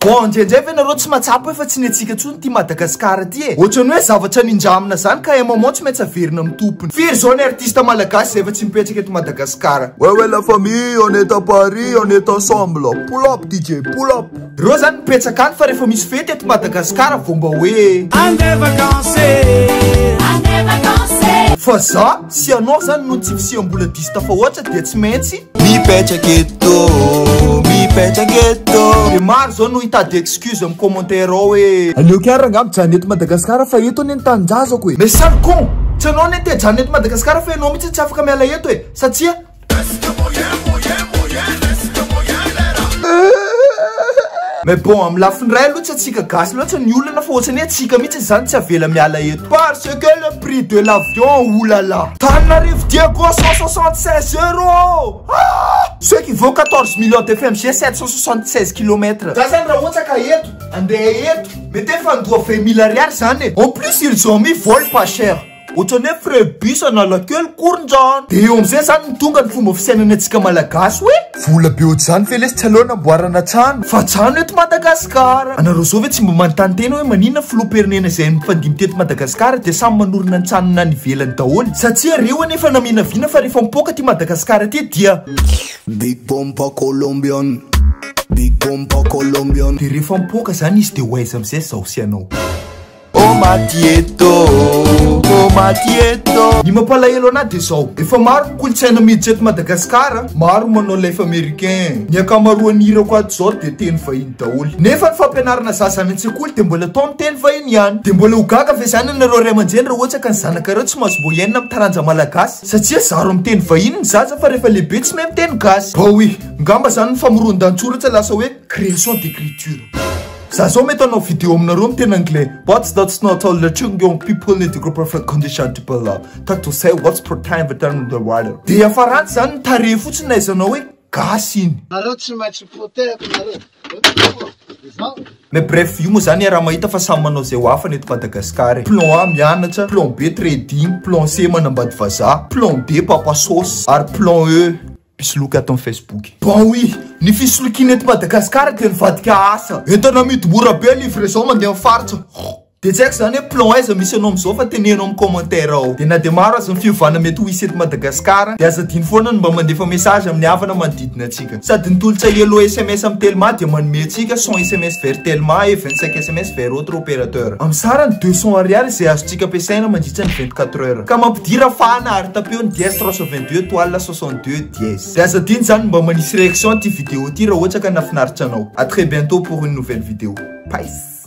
Bon, ndrendray ve nareo tsy mahatsapa hoe fa tsy ny antsika intsony ty Madagascar ty e? Ohatrany hoe zavatra nindramina zany ka un moment tsy maintsy averina amin'ny tompony. Firy zao ny artiste malagasy izay efa tsy mipetraka eto Madagascar? Wewe la famille, on est à Paris, on est ensemble. Pull up DJ, pull up. Reo zany mipetsaka any fa refa misy fety eto Madagascar vao mba hoe Andeha vacances Andeha vacances Fa za sy anao zany noho ny tsy fisiam-bola diso tafahoatra dia tsy maintsy Mipetraka eto Mipetraka eto Dia maro zao no hitady excuse am commentaire ao hoe Aleoko ihany rangah mijanona eto Madagascar fa eto anie ny tanindrazako e Mais sale con Tsy anao anie te hijanona eto Madagascar fa ianao mihitsy tsy afaka miala eto e Satsia Mais bon, amin'ny lafiny iray aloha tsy antsika gasy loatra ny olana fa ohatrany hoe antsika mihitsy izany tsy avela miala eto parce que le prix de l'avion oulala Tananarivo Diego 176 euros ah! ceux qui vaut 14 millions de FMG 776 km za zany raha ohatra ka eto andeha eto mety efa andoha 20 mille ariary zany e en plus ils ont mis vol pas cher Ohatran'ny hoe frais bus Analakely koriny zany. Dia eo amin'izay izany no tonga ny fomba fisainana antsika Malagasy hoe. Vola be ohatr'izany ve lesy tsy aleo anamboarana trano. Fa trano eto Madagasikara. Anareo izao ve tsy mba manontany tena hoe maninona filoham-pirenena izay mifandimby teto Madagasikara dia samy manorina ny tranony any ivelany daholo. Satria reo anie efa naminavina fa rehefa mipoaka aty Madagasikara aty dia. Big Pompa Colombian, Big Pompa Colombian. Dia rehefa mipoaka izany izy dia ho aiza amin'izay izaho sy ianao. Oh Matieto, oh Matieto. Ny mampalahelo anahy dia izao, efa maro ny kolontsaina miditra eto Madagasikara, maro manao life américain. Ny ankamaroan'ny hirako ato izao dia teny vahiny daholo. Nefa ny fampianarana zaza any an-tsekoly dia mbola atao amin'ny teny vahiny ihany. Dia mbola ho gaga ve izany ianareo ray aman-dreny raha ohatra ka ny zanakareo tsy mahazo mboa hiaina amin'ny taranja malagasy? Satria zaro amin'ny teny vahiny ny zaza fa rehefa lehibe tsy mahay miteny gasy. Baoy! Ngamba izany ny famoroan-dantsoratra lasa hoe création d'écriture. Za zao mety hanao vidéo aminareo miteny anglais What's that not all that you young people need to go perfect condition to be love That to say what's for time but I'm the water Dia farantsy zany ny tarehy fotsiny naizanao hoe gasy iny Nareo tsy maintsy protect nareo Mais bref, io moa zany raha mahita fa samy manao zay ho afany eto Madagascar e. Plan A mianatra, plan B trading, plan C manambady vazaha, plan D papa sauce, ary plan E Mpisoloky ato amin'ny Facebook. Baoy! Ny fisolokiana eto Madagasikara dia nivadika asa. Entana amidy mora be livre zao mandeha amin'ny faritra. Dia tsy haiko izany hoe plan aiza misy anao amin'izao fa teneno amin'ny commentaire ao. Dia na dia maro aza ny fiovana mety ho hisy eto Madagasikara dia aza adino foana ny mba mandefa message amin'ny havana manodidina antsika. Sady ny tolotsay hello sms amin'ny telma dia manome antsika cent sms vers telma et vingt cinq sms vers autre opérateur. Amin'ny sarany deux cents ariary izay azontsika ampiasaina mandritra ny vingt quatre heures. Ka mampidira fahana ary tapeo ny dièse trois cent vingt deux étoile soixante. sont deux dièse. Dia aza adino zany mba manisy réaction ity vidéo ity raha ohatra ka nafinaritra anao. A très bientôt pour une nouvelle vidéo. Peace.